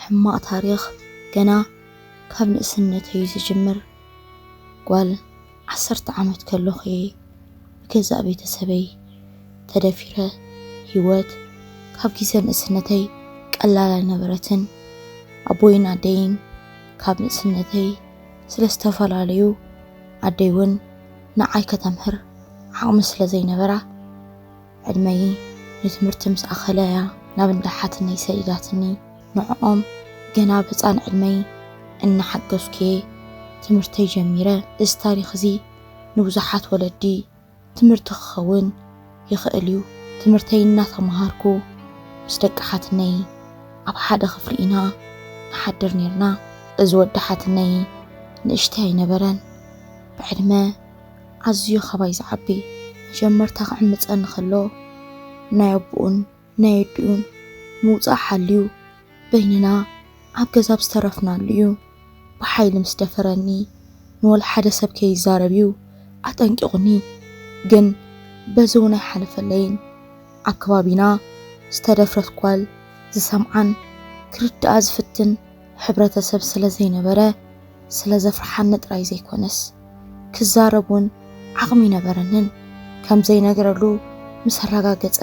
ሕማቕ ታሪኽ ገና ካብ ንእስነት እዩ ዝጅምር። ጓል ዓሰርተ ዓመት ከለኹ እየ ብገዛእ ቤተሰበይ ተደፊረ። ህይወት ካብ ግዜ ንእስነተይ ቀላል ኣይነበረትን። ኣቦይን ኣደይን ካብ ንእስነተይ ስለ ዝተፈላለዩ ኣደይ እውን ንዓይ ከተምህር ዓቕሚ ስለ ዘይነበራ ዕድመይ ንትምህርቲ ምስ ኣኸለ እያ ናብ እንዳ ሓትነይ ሰዲዳትኒ። ንዕኦም ገና ኣብ ህፃን ዕድመይ እናሓገዝኩ እየ ትምህርተይ ጀሚረ። እዚ ታሪኽ እዚ ንብዙሓት ወለዲ ትምህርቲ ክኸውን ይኽእል እዩ። ትምህርተይ እናተመሃርኩ ምስ ደቂ ሓትነይ ኣብ ሓደ ክፍሊ ኢና ንሓድር ኔርና። እዚ ወዲ ሓትነይ ንእሽተይ ኣይነበረን፣ ብዕድመ ኣዝዩ ካባይ ዝዓቢ። መጀመርታ ክዕምጸኒ ከሎ ናይ ኣቡኡን ናይ ኣዲኡን ምውጻእ ሓልዩ በይንና ኣብ ገዛ ኣብ ዝተረፍናሉ እዩ ብሓይሊ ምስ ደፈረኒ ንወላ ሓደ ሰብ ከይዛረብ እዩ ኣጠንቂቑኒ ግን በዚ እውን ኣይሓለፈለይን ኣብ ከባቢና ዝተደፍረት ጓል ዝሰምዓን ክርድኣ ዝፍትን ሕብረተሰብ ስለ ዘይነበረ ስለ ዘፍርሓኒ ጥራይ ዘይኮነስ ክዛረብ እውን ዓቕሚ ኣይነበረንን ከም ዘይነግረሉ ምስ ኣረጋገጸ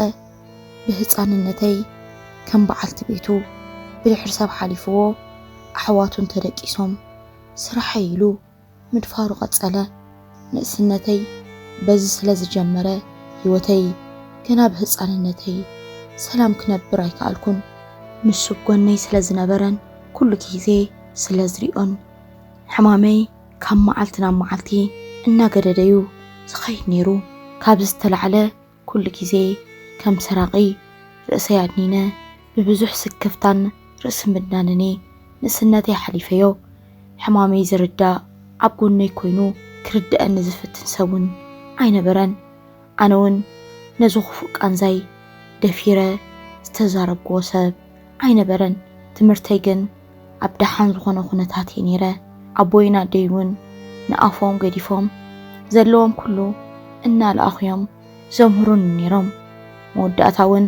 ብህጻንነተይ ከም በዓልቲ ቤቱ ብድሕሪ ሰብ ሓሊፍዎ ኣሕዋቱን ተደቂሶም ስራሐይ ኢሉ ምድፋሩ ቀጸለ። ንእስነተይ በዚ ስለ ዝጀመረ ህይወተይ ገና ብህጻንነተይ ሰላም ክነብር ኣይከኣልኩን። ንሱ ብ ጎነይ ስለ ዝነበረን ኩሉ ግዜ ስለ ዝሪኦን ሕማመይ ካብ መዓልቲ ናብ መዓልቲ እናገደደ'ዩ ዝኸይድ ነይሩ። ካብዚ ዝተላዕለ ኩሉ ግዜ ከም ሰራቒ ርእሰይ ኣድኒነ ብብዙሕ ስክፍታን ርእሲ ምድናንን እየ ንእስነተይ ሓሊፈዮ። ሕማመይ ዝርዳእ ኣብ ጎነይ ኮይኑ ክርድኣኒ ዝፍትን ሰብ እውን ኣይነበረን። ኣነ እውን ነዚ ክፉእ ቃንዛይ ደፊረ ዝተዛረብኩዎ ሰብ ኣይነበረን። ትምህርተይ ግን ኣብ ደሓን ዝኾነ ኩነታት እየ ነይረ። ኣቦይን ኣደይ እውን ንኣፎም ገዲፎም ዘለዎም ኩሉ እናለኣኹ እዮም ዘምህሩኒ ነይሮም። መወዳእታ እውን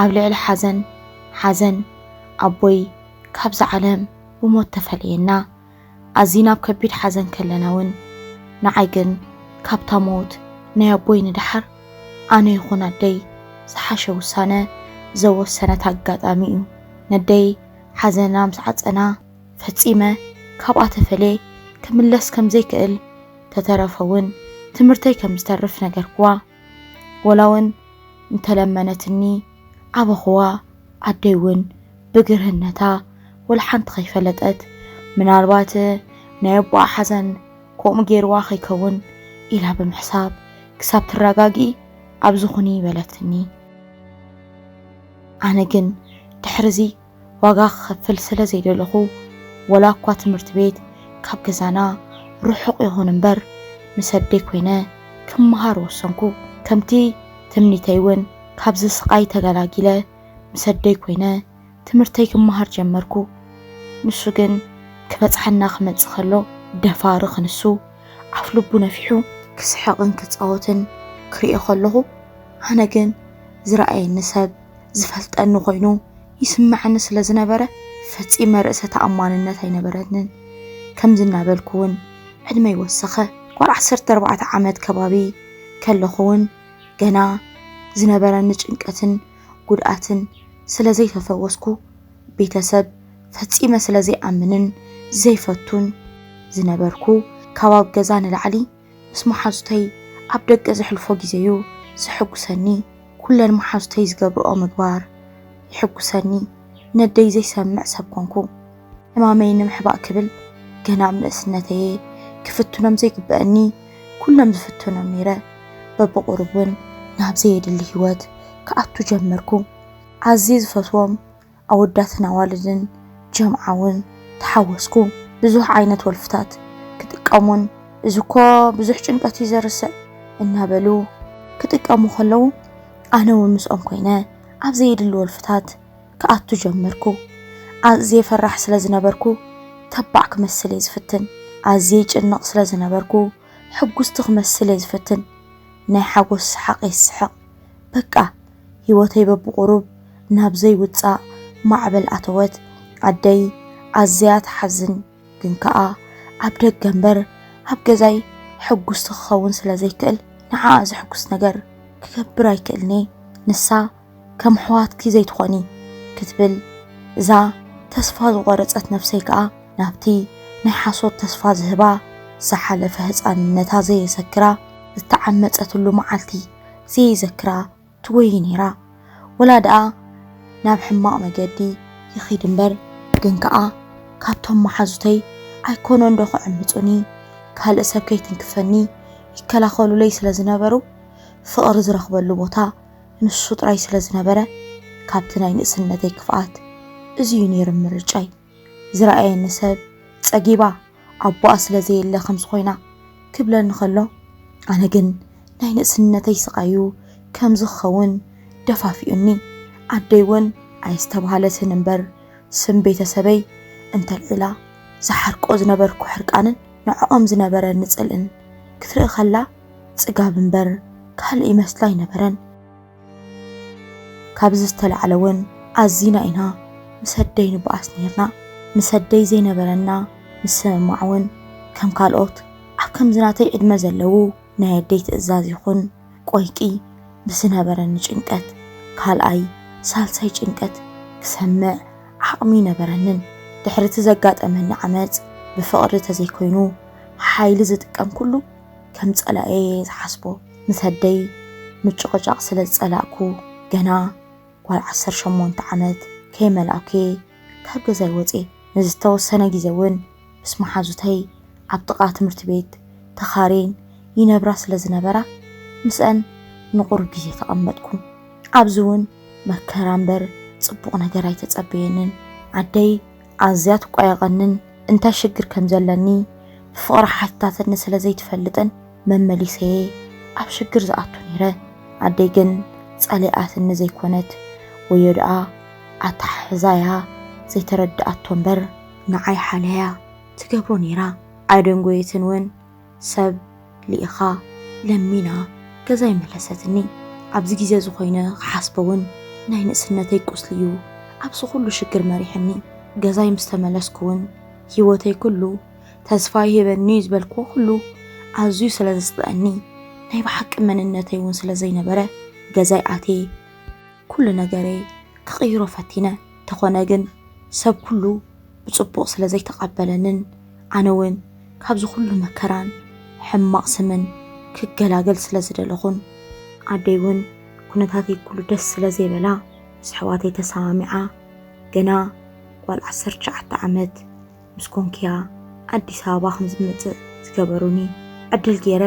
ኣብ ልዕሊ ሓዘን ሓዘን ኣቦይ ካብዛ ዓለም ብሞት ተፈለየና። ኣዚና ኣብ ከቢድ ሓዘን ከለና እውን ንዓይ ግን ካብታ ሞት ናይ ኣቦይ ንደሓር ኣነ ይኹን ኣደይ ዝሓሸ ውሳነ ዘወሰነት ኣጋጣሚ እዩ። ነደይ ሓዘና ምስ ዓጸና ፈጺመ ካብኣ ተፈልየ ክምለስ ከም ዘይክእል፣ ተተረፈውን ትምህርተይ ከም ዝተርፍ ነገርክዋ። ወላውን እንተ ለመነትኒ ዓበኹዋ። ኣደይውን ብግርህነታ ወላ ሓንቲ ከይፈለጠት፣ ምናልባት ናይ ኣቦኣ ሓዘን ከምኡ ገይርዋ ከይከውን ኢላ ብምሕሳብ፣ ክሳብ ትረጋግኢ ኣብዚ ኩኒ በለትኒ። ኣነ ግን ድሕሪዚ ዋጋ ክኸፍል ስለ ዘይደለኹ፣ ወላ እኳ ትምህርቲ ቤት ካብ ገዛና ርሑቕ ይኹን እምበር፣ ምስ ኣደይ ኮይነ ክመሃር ወሰንኩ። ከምቲ ትምኒተይ እውን ካብዚ ስቓይ ተገላጊለ ምስ ኣደይ ኮይነ ትምህርተይ ክመሃር ጀመርኩ። ንሱ ግን ክበጽሓና ክመጽእ ከሎ ደፋር ክንሱ ኣፍልቡ ነፊሑ፣ ክስሕቕን ክጻወትን ክርእዮ ከለኹ፣ ኣነ ግን ዝረኣየኒ ሰብ ዝፈልጠኒ ኮይኑ ይስመዐኒ ስለ ዝነበረ ፈጺመ ርእሰ ተኣማንነት ኣይነበረንን። ከምዚ እናበልኩ እውን ዕድመይ ወሰኸ። ጓል ዓሰርተ ኣርባዕተ ዓመት ከባቢ ከለኹ እውን ገና ዝነበረኒ ጭንቀትን ጉድኣትን ስለ ዘይተፈወስኩ ቤተሰብ ፈጺመ ስለ ዘይኣምንን ዘይፈቱን ዝነበርኩ ካብ ኣብ ገዛ ንላዕሊ ምስ መሓዙተይ ኣብ ደገ ዘሕልፎ ግዜ'ዩ ዘሐጉሰኒ፣ ኩለን መሓዙተይ ዝገብርኦ ምግባር የሕጉሰኒ፣ ነደይ ዘይሰምዕ ሰብ ኮንኩ። ሕማመይ ንምሕባእ ክብል ገና ኣብ ንእስነተይ'የ ክፍትኖም ዘይግበኣኒ ኩሎም ዝፍትኖም ነይረ፣ በብቑሩብ ውን ናብ ዘየድሊ ሂወት ክኣቱ ጀመርኩ፣ ኣዝየ ዝፈትዎም ኣወዳትን ኣዋልድን ጀምዓ እውን ተሓወስኩ። ብዙሕ ዓይነት ወልፍታት ክጥቀሙን እዚ እኮ ብዙሕ ጭንቀት እዩ ዘርስዕ እናበሉ ክጥቀሙ ከለዉ ኣነ እውን ምስኦም ኮይነ ኣብ ዘየድሊ ወልፍታት ክኣቱ ጀመርኩ። ኣዝየ ፈራሕ ስለ ዝነበርኩ ተባዕ ክመስል እየ ዝፍትን። ኣዝየ ይጭነቕ ስለ ዝነበርኩ ሕጉስቲ ክመስል እየ ዝፍትን። ናይ ሓጎስ ሰሓቕ እየ ዝስሕቕ። በቃ ህይወተይ በብቑሩብ ናብ ዘይውጻእ ማዕበል ኣተወት። ኣደይ ኣዝያ ትሓዝን፣ ግን ከኣ ኣብ ደገ እምበር ኣብ ገዛይ ሕጉስቲ ክኸውን ስለ ዘይክእል ንዓኣ ዘሕጉስ ነገር ክገብር ኣይክእልን'የ። ንሳ ከም ኣሕዋትኪ ዘይትኾኒ ክትብል እዛ ተስፋ ዝቖረጸት ነፍሰይ ከኣ ናብቲ ናይ ሓሶት ተስፋ ዝህባ፣ ዝሓለፈ ህጻንነታ ዘየሰክራ፣ ዝተዓመጸትሉ መዓልቲ፣ ዘየዘክራ ትጎይ ነይራ ወላ ደኣ ናብ ሕማቕ መገዲ ይኺድ እምበር ግን ከኣ ካብቶም መሓዙተይ ኣይኮነን ዶ ክዕምጹኒ ካልእ ሰብ ከይትንክፈኒ ይከላኸሉለይ ስለ ዝነበሩ ፍቕሪ ዝረኽበሉ ቦታ ንሱ ጥራይ ስለ ዝነበረ ካብቲ ናይ ንእስነተይ ክፍኣት እዚ እዩ ነይሩ ምርጫይ። ዝረኣየኒ ሰብ ጸጊባ ኣቦኣ ስለ ዘየለ ከምዚ ኮይና ክብለኒ ከሎ ኣነ ግን ናይ ንእስነተይ ስቓዩ ከምዚ ክኸውን ደፋፊኡኒ። ኣደይ እውን ኣየስተብሃለትን እምበር ስም ቤተሰበይ እንተልዒላ ዝሓርቆ ዝነበርኩ ሕርቃንን ንዕኦም ዝነበረኒ ጽልእን ክትርኢ ከላ ጽጋብ እምበር ካልእ ይመስላ ኣይነበረን። ካብዚ ዝተላዕለ እውን ኣዚና ኢና ምስ ኣደይ ንበኣስ ነይርና። ምስ ኣደይ ዘይነበረና ምስምማዕ እውን ከም ካልኦት ኣብ ከምዚ ናተይ ዕድመ ዘለዉ ናይ ኣደይ ትእዛዝ ይኹን ቆይቂ ብዝነበረኒ ጭንቀት ካልኣይ ሳልሳይ ጭንቀት ክሰምዕ ዓቕሚ ይነበረንን። ድሕሪ እቲ ዘጋጠመኒ ዓመፅ ብፍቕሪ ተዘይኮይኑ ሓይሊ ዝጥቀም ኩሉ ከም ጸላኤ እየ ዝሓስቦ ምስ ኣደይ ምጭቕጫቕ ስለ ዝጸላእኩ ገና ጓል ዓሰርተ ሸሞንተ ዓመት ከይመልኣኩ'የ ካብ ገዛይ ወጽየ። ንዝተወሰነ ግዜ እውን ምስ መሓዙተይ ኣብ ጥቓ ትምህርቲ ቤት ተኻርየን ይነብራ ስለ ዝነበራ ምስኣን ንቑሩብ ግዜ ተቐመጥኩ። ኣብዚ እውን መከራ እምበር ጽቡቕ ነገር ኣይተጸበየንን። ኣደይ ኣዝያ ትቋየቐንን እንታይ ሽግር ከም ዘለኒ ብፍቕራ ሓቲታትኒ ስለ ዘይትፈልጥን መመሊሰ'የ ኣብ ሽግር ዝኣቱ ነይረ። ኣደይ ግን ጸሊኣትኒ ዘይኮነት ወዮ ደኣ ኣተሓሕዛያ ዘይተረድኣቶ እምበር፣ ንዓይ ሓልያ'ያ ትገብሮ ነይራ ኣይደንጎየትን ውን። ሰብ ልኢኻ ለሚና ገዛ ኣይመለሰትኒ ኣብዚ ግዜ እዚ ኮይነ ክሓስቦ ውን ናይ ንእስነተይ ቁስሊ ዩ ኣብዚ ኩሉ ሽግር መሪሕኒ ገዛይ ምስ ተመለስኩ ውን ሂወተይ ኩሉ ተስፋ ይህበኒ ዩ ዝበልክዎ ኩሉ ኣዝዩ ስለ ዘጽልኣኒ ናይ ብሓቂ መንነተይ ውን ስለ ዘይነበረ ገዛይ ኣትየ ኩሉ ነገረይ ክቕይሮ ፈቲነ ተኾነ ግን ሰብ ኩሉ ብጽቡቕ ስለ ዘይተቐበለንን ኣነ ውን ካብዚ ኩሉ መከራን ሕማቕ ስምን ክገላገል ስለ ዝደለኹን ኣደይ ውን ኩነታተይ ኩሉ ደስ ስለ ዘይበላ ምስ ኣሕዋተይ ተሰማሚዓ ገና ጓል ዓሰርተ ትሽዓተ ዓመት ምስ ኮንኩ'ያ ኣዲስ ኣበባ ከም ዝመጽእ ዝገበሩኒ። ዕድል ገይረ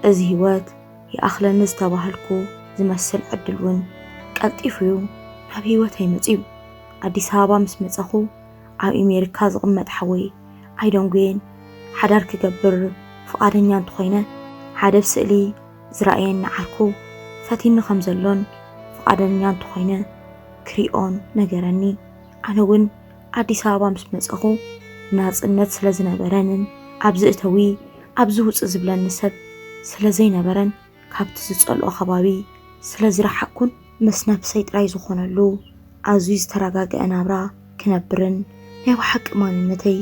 እዚ ህይወት ይኣኽለኒ ዝተባሃልኩ ዝመስል ዕድል ውን ቀልጢፉ'ዩ ናብ ህይወተይ መጺኡ። ኣዲስ ኣበባ ምስ መጸኹ ኣብ ኤሜሪካ ዝቕመጥ ሓወይ ኣይደንጉየን ሓዳር ክገብር ፍቓደኛ እንተኾይነ ሓደ ብስእሊ ዝረኣየኒ ዓርኩ ፈቲኒ ከም ዘሎን ፍቓደኛ እንተኾይነ ክሪኦን ነገረኒ። ኣነ እውን ኣዲስ ኣበባ ምስ መጸኹ ናጽነት ስለ ዝነበረንን ኣብዚ እተዊ ኣብዚ ውጽእ ዝብለኒ ሰብ ስለ ዘይነበረን ካብቲ ዝጸልኦ ከባቢ ስለ ዝረሓቅኩን ምስ ነብሰይ ጥራይ ዝኾነሉ ኣዝዩ ዝተረጋግዐ ናብራ ክነብርን ናይ ብሓቂ ማንነተይ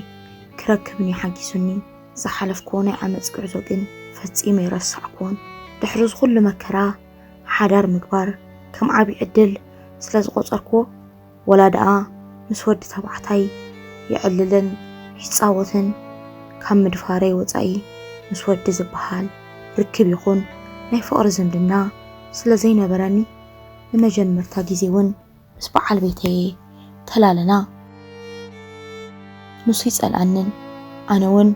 ክረክብን እዩ ሓጊዙኒ። ዝሓለፍክዎ ናይ ዓመጽ ጉዕዞ ግን ፈጺሙ ኣይረሳዕክዎን። ድሕሪ እዚ ኩሉ መከራ ሓዳር ምግባር ከም ዓቢ ዕድል ስለ ዝቖጸርክዎ፣ ወላ ደኣ ምስ ወዲ ተባዕታይ የዕልልን ይጻወትን ካብ ምድፋረይ ወጻኢ ምስ ወዲ ዝበሃል ርክብ ይኹን ናይ ፍቕሪ ዝምድና ስለ ዘይነበረኒ ንመጀመርታ ግዜ ውን ምስ በዓል ቤተይ'የ ተላልና። ንሱ ኣይጸልኣንን ኣነ ውን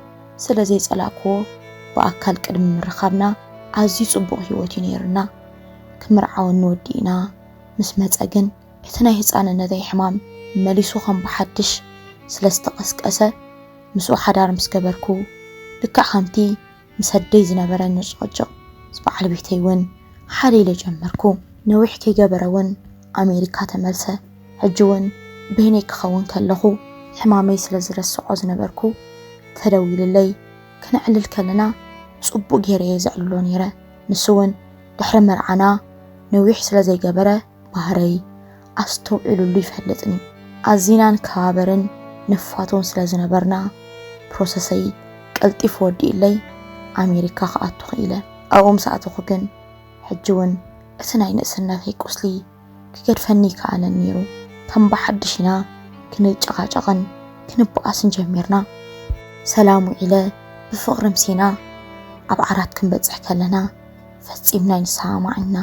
ስለ ዘይጸላእክዎ ብኣካል ቅድሚ ምርኻብና ኣዝዩ ጽቡቕ ሂወት'ዩ ነይሩና። ክምርዓወኒ ወዲእና ምስ መጸ ግን፣ እቲ ናይ ህጻንነተይ ሕማም መሊሱ ከም ብሓድሽ ስለ ዝተቐስቀሰ፣ ምስኡ ሓዳር ምስ ገበርኩ፣ ልክዕ ከምቲ ምስ ኣደይ ዝነበረኒ ጭቕጭቕ ምስ በዓል ቤተይ እውን ሓደ ኢለ ጀመርኩ። ነዊሕ ከይገበረ እውን ኣሜሪካ ተመልሰ። ሕጂ እውን በይነይ ክኸውን ከለኹ ሕማመይ ስለ ዝረስዖ ዝነበርኩ፣ ተደዊሉለይ ክነዕልል ከለና ጽቡቕ ገይረ እየ ዘዕልሎ ነይረ። ንሱ እውን ድሕሪ መርዓና ነዊሕ ስለ ዘይገበረ፣ ባህረይ ኣስተውዒሉሉ ይፈልጥን እዩ። ኣዚና ንከባበርን ንፋቶን ስለ ዝነበርና፣ ፕሮሰሰይ ቀልጢፉ ወዲኡለይ ኣሜሪካ ክኣቱ ክኢለ። ኣብኡ ምስ ኣተኹ ግን ሕጂ'ውን እቲ ናይ ንእስነተይ ቁስሊ ክገድፈኒ ኣይከኣለን ነይሩ። ከም ብሓድሽ ኢና ክንጨቓጨቕን ክንበኣስን ጀሚርና። ሰላም ውዒለ ብፍቕሪ ምሲና ኣብ ዓራት ክንበጽሕ ከለና ፈጺምና ኣይንሰማማዕን ኢና።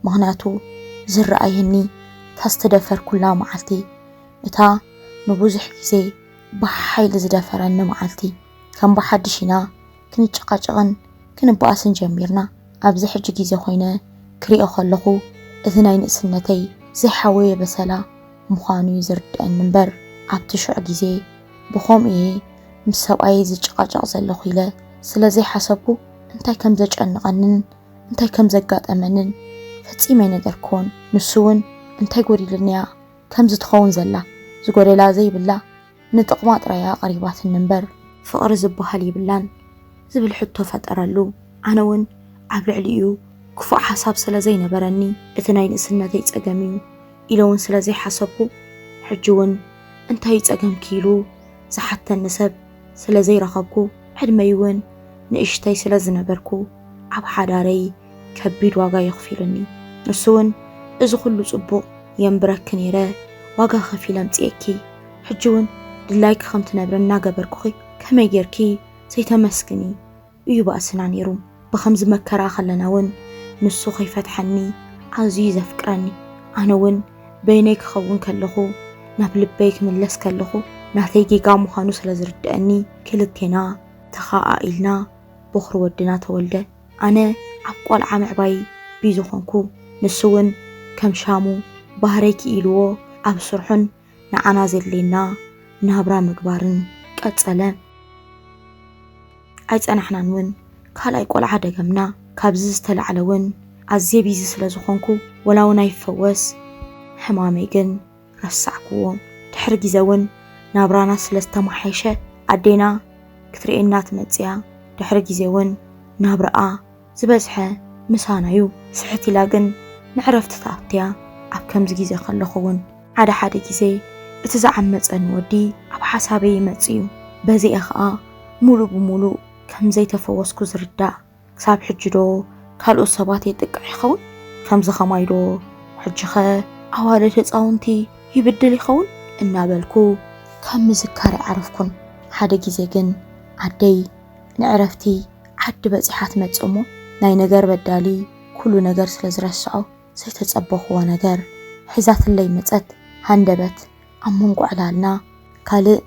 ምኽንያቱ ዝረኣየኒ እታ ዝተደፈርኩላ መዓልቲ፣ እታ ንብዙሕ ግዜ ብሓይሊ ዝደፈረኒ መዓልቲ፣ ከም ብሓድሽ ኢና ክንጨቓጨቕን ክንበኣስን ጀሚርና። ኣብዚ ሕጂ ግዜ ኮይነ ክሪኦ ከለኹ እቲ ናይ ንእስነተይ ዘይሓወየ በሰላ ምዃኑ'ዩ ዝርደኣኒ እምበር ኣብቲ ሽዑ ግዜ ብኸምኡ'የ ምስ ሰብኣየይ ዝጨቓጨቕ ዘለኹ ኢለ ስለ ዘይሓሰብኩ እንታይ ከም ዘጨንቐንን እንታይ ከም ዘጋጠመንን ፈጺመ ኣይነገርክዎን። ንሱ እውን እንታይ ጎዲሉኒ እያ ከምዚ ትኸውን ዘላ፣ ዝጎደላ ዘይብላ ንጥቕማ ጥራይ እያ ኣቕሪባትኒ እምበር፣ ፍቕሪ ዝበሃል የብላን ዝብል ሕቶ ፈጠረሉ። ኣነ እውን ኣብ ልዕሊኡ ክፉእ ሓሳብ ስለ ዘይነበረኒ፣ እቲ ናይ ንእስነተይ ጸገም እዩ ኢለ እውን ስለ ዘይሓሰብኩ፣ ሕጂ እውን እንታይ እዩ ጸገምኪ ኢሉ ዝሓተኒ ሰብ፣ ስለ ዘይረኸብኩ ዕድመይ እውን ንእሽተይ ስለ ዝነበርኩ ኣብ ሓዳረይ ከቢድ ዋጋ የኽፊሉኒ ንሱ እውን እዚ ኩሉ ፅቡቕ የንብረኪ ነይረ ዋጋ ከፊለ ኣምፅኤኪ ሕጂ እውን ድላይኪ ከም ትነብሪ እናገበርኩኺ ከመይ ገይርኪ ዘይተመስግኒ እዩ ባእስና ነይሩ። ብኸምዚ መከራ ከለና እውን ንሱ ከይፈትሐኒ ኣዝዩ እዩ ዘፍቅረኒ። ኣነ እውን በይነይ ክኸውን ከለኹ ናብ ልበይ ክምለስ ከለኹ ናተይ ጌጋ ምዃኑ ስለ ዝርደኣኒ ክልቴና ተኸኣኢልና ቦኽሪ ወድና ተወልደ። ኣነ ኣብ ቆልዓ ምዕባይ ቢዚ ኾንኩ። ንሱ እውን ከም ሻሙ ባህረይ ክኢልዎ ኣብ ስርሑን ንዓና ዘድልየና ናብራ ምግባርን ቀጸለ። ኣይጸናሕናን እውን ካልኣይ ቆልዓ ደገምና። ካብዚ ዝተላዕለ እውን ኣዝየ ቢዚ ስለ ዝኾንኩ ወላ እውን ኣይፈወስ ሕማመይ ግን ረሳዕኩዎ። ድሕሪ ግዜ እውን ናብራና ስለ ዝተመሓየሸ ኣዴና ክትርእየና ትመጽእያ። ድሕሪ ግዜ እውን ናብራኣ ዝበዝሐ ምሳና'ዩ፣ ስሕት ኢላ ግን ንዕረፍቲ ትኣቱ'ያ፣ ኣብ ከምዚ ግዜ ከለኹ'ውን ሓደ ሓደ ግዜ እቲ ዝዓመጸኒ ወዲ ኣብ ሓሳበይ ይመጽእ'ዩ፣ በዚ'የ ኸኣ ምሉእ ብምሉእ ከም ዘይተፈወስኩ ዝርዳእ፣ ክሳብ ሕጂ'ዶ ካልኦት ሰባት የጥቅዕ ይኸውን? ከምዚ ኸማይ'ዶ ሕጂ'ኸ ኣዋልድ ህጻውንቲ ይብድል ይኸውን? እናበልኩ ካብ ምዝካር ኣይዓረፍኩን፣ ሓደ ግዜ ግን ኣደይ። ንዕረፍቲ ዓዲ በጺሓ ትመጽእ እሞ ናይ ነገር በዳሊ ኩሉ ነገር ስለ ዝረስዖ ዘይተጸበኹዎ ነገር ሒዛትለይ መጸት ሃንደበት ኣብ መንጎ ዕላልና ካልእ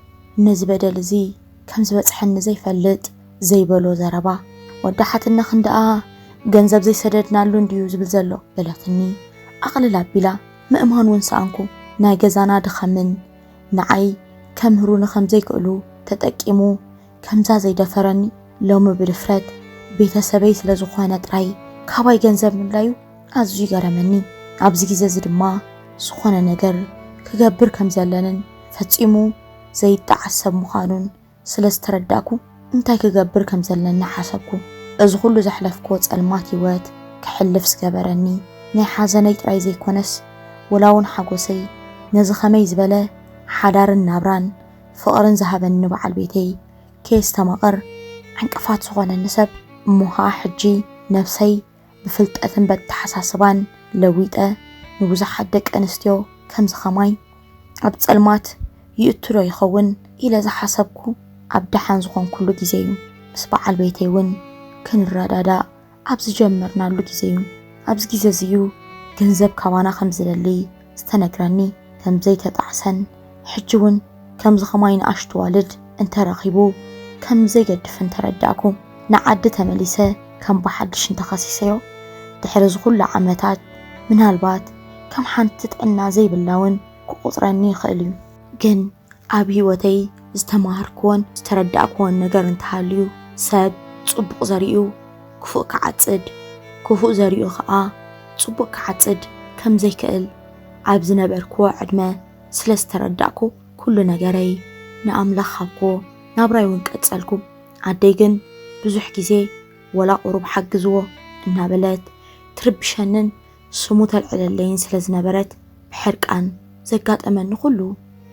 ነዚ በደል እዚ ከም ዝበጽሐኒ ዘይፈልጥ ዘይበሎ ዘረባ ወዲ ሓትነ ክንደኣ ገንዘብ ዘይሰደድናሉ እንድዩ ዝብል ዘሎ በለትኒ ኣቕልል ኣቢላ ምእማን እውን ሰኣንኩ ናይ ገዛና ድኸምን ንዓይ ከምህሩኒ ከም ዘይክእሉ ተጠቂሙ ከምዛ ዘይደፈረኒ ሎሚ ብድፍረት ቤተሰበይ ስለ ዝኾነ ጥራይ ካባይ ገንዘብ ምድላዩ ኣዝዩ ገረመኒ። ኣብዚ ግዜ እዚ ድማ ዝኾነ ነገር ክገብር ከም ዘለንን ፈጺሙ ዘይጠዓስ ሰብ ምዃኑን ስለ ዝተረዳእኩ እንታይ ክገብር ከም ዘለኒ ሓሰብኩ። እዚ ኩሉ ዘሕለፍክዎ ጸልማት ህይወት ክሕልፍ ዝገበረኒ ናይ ሓዘነይ ጥራይ ዘይኮነስ ወላ ውን ሓጎሰይ ነዚ ከመይ ዝበለ ሓዳርን ናብራን ፍቕርን ዝሃበኒ ንበዓል ቤተይ ከየስተማቕር ዕንቅፋት ዝኾነኒ ሰብ እሞ ኸኣ ሕጂ ነብሰይ ብፍልጠትን በተሓሳስባን ለዊጠ ንብዙሓት ደቂ ኣንስትዮ ከምዚ ከማይ ኣብ ጸልማት ይእቱ ዶ ይኸውን ኢለ ዝሓሰብኩ ኣብ ደሓን ዝኾንኩሉ ግዜ'ዩ። ምስ በዓል ቤተይ'ውን ክንረዳዳእ ኣብ ዝጀመርናሉ ግዜ እዩ። ኣብዚ ግዜ እዚ እዩ ገንዘብ ካባና ከም ዝደሊ ዝተነግረኒ፣ ከም ዘይተጣዕሰን ሕጂ እውን ከምዚ ከማይ ንኣሽቱ ኣዋልድ እንተ ረኺቡ ከም ዘይገድፍን ተረዳእኩ። ንዓዲ ተመሊሰ ከም ብሓድሽ እንተ ኸሲሰዮ፣ ድሕሪ እዚ ኹሉ ዓመታት ምናልባት ከም ሓንቲ ጥዕና ዘይብላ እውን ክቑጽረኒ ይኽእል እዩ። ግን ኣብ ህይወተይ ዝተማሃርክዎን ዝተረዳእክዎን ነገር እንተሃልዩ ሰብ ጽቡቕ ዘሪኡ ክፉእ ክዓጽድ፣ ክፉእ ዘሪኡ ከኣ ጽቡቕ ክዓጽድ ከም ዘይክእል ኣብ ዝነበርክዎ ዕድመ ስለ ዝተረዳእኩ ኩሉ ነገረይ ንኣምላኽ ሃብክዎ፣ ናብራይ እውን ቀጸልኩ። ኣደይ ግን ብዙሕ ግዜ ወላ ቁሩብ ሓግዝዎ እናበለት ትርብሸንን ስሙ ተልዕለለይን ስለ ዝነበረት ብሕርቃን ዘጋጠመኒ ኩሉ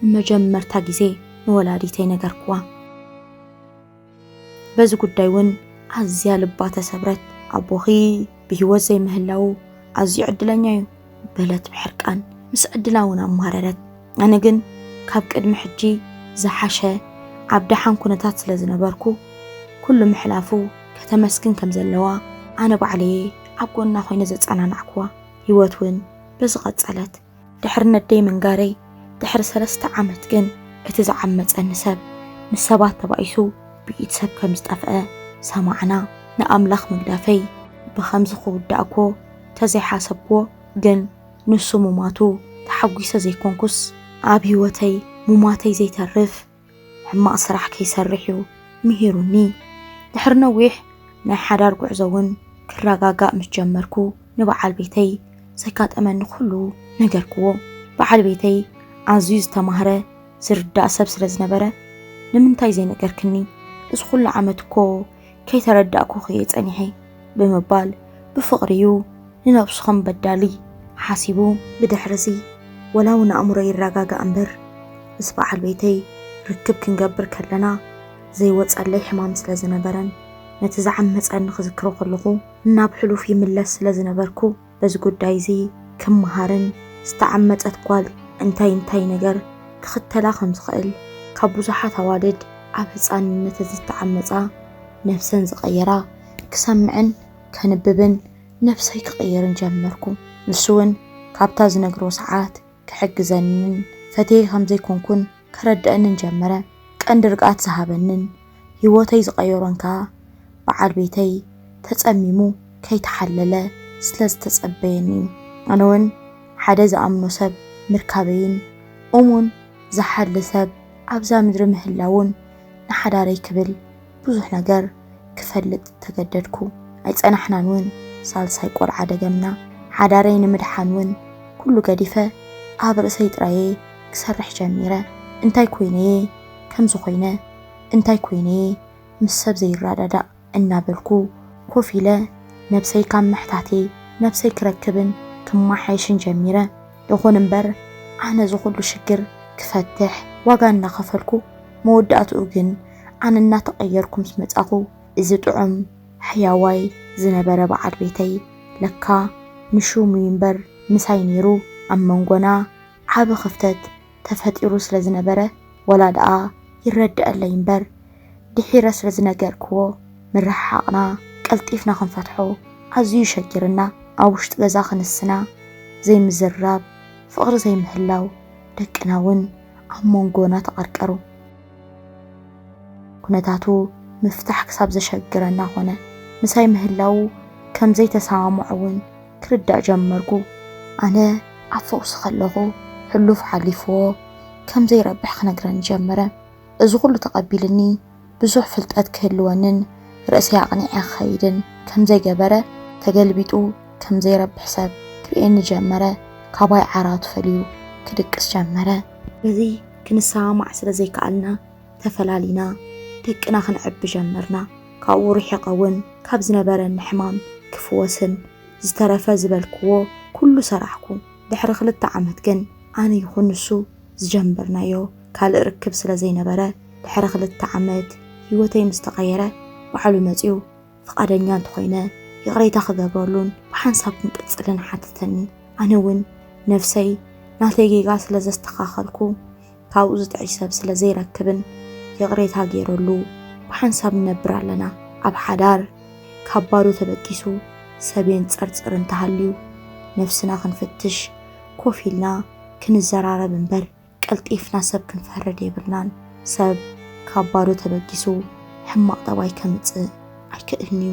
ንመጀመርታ ግዜ ንወላዲተይ ነገርክዋ። በዚ ጉዳይ እውን ኣዝያ ልባ ተሰብረት። ኣቦኺ ብህይወት ዘይምህላዉ ኣዝዩ ዕድለኛ እዩ በለት ብሕርቃን። ምስ ዕድላ እውን ኣማረረት። ኣነ ግን ካብ ቅድሚ ሕጂ ዝሓሸ ኣብ ደሓን ኩነታት ስለ ዝነበርኩ ኩሉ ምሕላፉ ከተመስግን ከም ዘለዋ ኣነ ባዕለየ ኣብ ጎና ኮይነ ዘጸናናዕኩዋ ህይወት እውን በዚ ቀጸለት ድሕሪ ነደይ ምንጋረይ ድሕሪ ሰለስተ ዓመት ግን እቲ ዝዓመጸኒ ሰብ ምስ ሰባት ተባኢሱ ብኢድ ሰብ ከም ዝጠፍአ ሰማዕና ንኣምላኽ ምግዳፈይ ብኸምዚ ክውዳእኮ ተዘይሓሰብኩዎ ግን ንሱ ሙማቱ ተሓጒሰ ዘይኮንኩስ፣ ኣብ ህይወተይ ሙማተይ ዘይተርፍ ሕማቕ ስራሕ ከይሰርሕ'ዩ ምሂሩኒ። ድሕሪ ነዊሕ ናይ ሓዳር ጉዕዞ'ውን ክረጋጋእ ምስ ጀመርኩ ንበዓል ቤተይ ዘጋጠመኒ ኩሉ ነገርክዎ። በዓል ቤተይ ኣዝዩ ዝተማህረ ዝርዳእ ሰብ ስለ ዝነበረ፣ ንምንታይ ዘይነገርክኒ? እዚ ኩሉ ዓመት እኮ ከይተረዳእኩ ክየ ጸኒሐ ብምባል ብፍቕሪዩ ንነብሱ ከም በዳሊ ሓሲቡ። ብድሕርዚ ወላውን ኣእምሮይ ይረጋጋእ እምበር ምስ በዓል ቤተይ ርክብ ክንገብር ከለና ዘይወጸለይ ሕማም ስለ ዝነበረን ነቲ ዝዓመጸኒ ክዝክሮ ከለኹ ናብ ሕሉፍ ይምለስ ስለ ዝነበርኩ፣ በዚ ጉዳይ እዚ ክመሃርን ዝተዓመጸት ጓል እንታይ እንታይ ነገር ክኽተላ ከም ዝኽእል ካብ ብዙሓት ኣዋልድ ኣብ ህጻንነተን ዝተዓመጻ ነብሰን ዝቐየራ ክሰምዕን ከንብብን ነብሰይ ክቕይርን ጀመርኩ። ንሱ እውን ካብታ ዝነግሮ ሰዓት ክሕግዘንን ፈትየ ከም ዘይኮንኩን ከረድኣንን ጀመረ። ቀንዲ ርግኣት ዝሃበንን ህይወተይ ዝቐየሮን ከኣ በዓል ቤተይ ተጸሚሙ ከይተሓለለ ስለ ዝተጸበየኒ'ዩ። ኣነ'ውን ሓደ ዝኣምኖ ሰብ ምርካበይን እሙን ዝሓሊ ሰብ ኣብዛ ምድሪ ምህላዉን ንሓዳረይ ክብል፣ ብዙሕ ነገር ክፈልጥ ተገደድኩ። ኣይጸናሕናን እውን ሳልሳይ ቆልዓ ደገምና። ሓዳረይ ንምድሓን እውን ኩሉ ገዲፈ ኣብ ርእሰይ ጥራየ ክሰርሕ ጀሚረ። እንታይ ኮይነየ ከምዚ ኮይነ? እንታይ ኮይነየ ምስ ሰብ ዘይረዳዳእ? እናበልኩ ኮፍ ኢለ ነብሰይ ካብ ምሕታቴ ነብሰይ ክረክብን ክመሓየሽን ጀሚረ። ይኹን እምበር ኣነ እዚ ኩሉ ሽግር ክፈትሕ ዋጋ እናኸፈልኩ መወዳእትኡ ግን ኣነ እናተቐየርኩ ምስ መጻኹ እዚ ጥዑም ሕያዋይ ዝነበረ በዓል ቤተይ ለካ ንሹም'ዩ እምበር ምሳይ ነይሩ ኣብ መንጎና ዓቢ ክፍተት ተፈጢሩ ስለ ዝነበረ ወላ ደኣ ይረደኣለይ እምበር ድሒረ ስለ ዝነገርክዎ ምርሕሓቕና ቀልጢፍና ክንፈትሖ ኣዝዩ ሸጊርና ኣብ ውሽጢ ገዛ ክንስና ዘይምዝርራብ ፍቕሪ ዘይምህላው ደቅና ውን ኣብ ሞንጎና ተቐርቀሩ። ኩነታቱ ምፍታሕ ክሳብ ዘሸግረና ኮነ። ምሳይ ምህላዉ ከም ዘይተሰማምዖ እውን ክርዳእ ጀመርኩ። ኣነ ኣብ ፈውሲ ከለኹ ሕሉፍ ሓሊፍዎ ከም ዘይረብሕ ክነግረኒ ጀመረ። እዚ ኩሉ ተቐቢሉኒ ብዙሕ ፍልጠት ክህልወንን ርእሰይ ኣቕኒዐ ክኸይድን ከም ዘይገበረ ተገልቢጡ ከም ዘይረብሕ ሰብ ክርእየኒ ጀመረ። ካባይ ዓራቱ ፈልዩ ክድቅስ ጀመረ። እዚ ክንሰማማዕ ስለ ዘይከኣልና ተፈላሊና፣ ደቅና ክንዕቢ ጀመርና። ካብኡ ርሒቐ እውን ካብ ዝነበረኒ ሕማም ክፍወስን ዝተረፈ ዝበልክዎ ኩሉ ሰራሕኩ። ድሕሪ ክልተ ዓመት ግን ኣነ ይኹን ንሱ ዝጀመርናዮ ካልእ ርክብ ስለ ዘይነበረ፣ ድሕሪ ክልተ ዓመት ህይወተይ ምስ ተቐየረ ባዕሉ መጺኡ ፍቓደኛ እንተኾይነ ይቕሬታ ክገብረሉን ብሓንሳብ ክንቅጽልን ሓተተኒ። ኣነ እውን ነብሰይ ናተይ ጌጋ ስለ ዘስተኻኸልኩ ካብኡ ዝጥዕይ ሰብ ስለ ዘይረክብን ይቕሬታ ገይረሉ ብሓንሳብ ንነብር ኣለና። ኣብ ሓዳር ካብ ባዶ ተበጊሱ ሰብ የንጸርጽር እንተሃልዩ ነብስና ክንፍትሽ ኮፍ ኢልና ክንዘራረብ እምበር፣ ቀልጢፍና ሰብ ክንፈርድ የብልናን። ሰብ ካብ ባዶ ተበጊሱ ሕማቕ ጠባይ ከምጽእ ኣይክእልን'ዩ።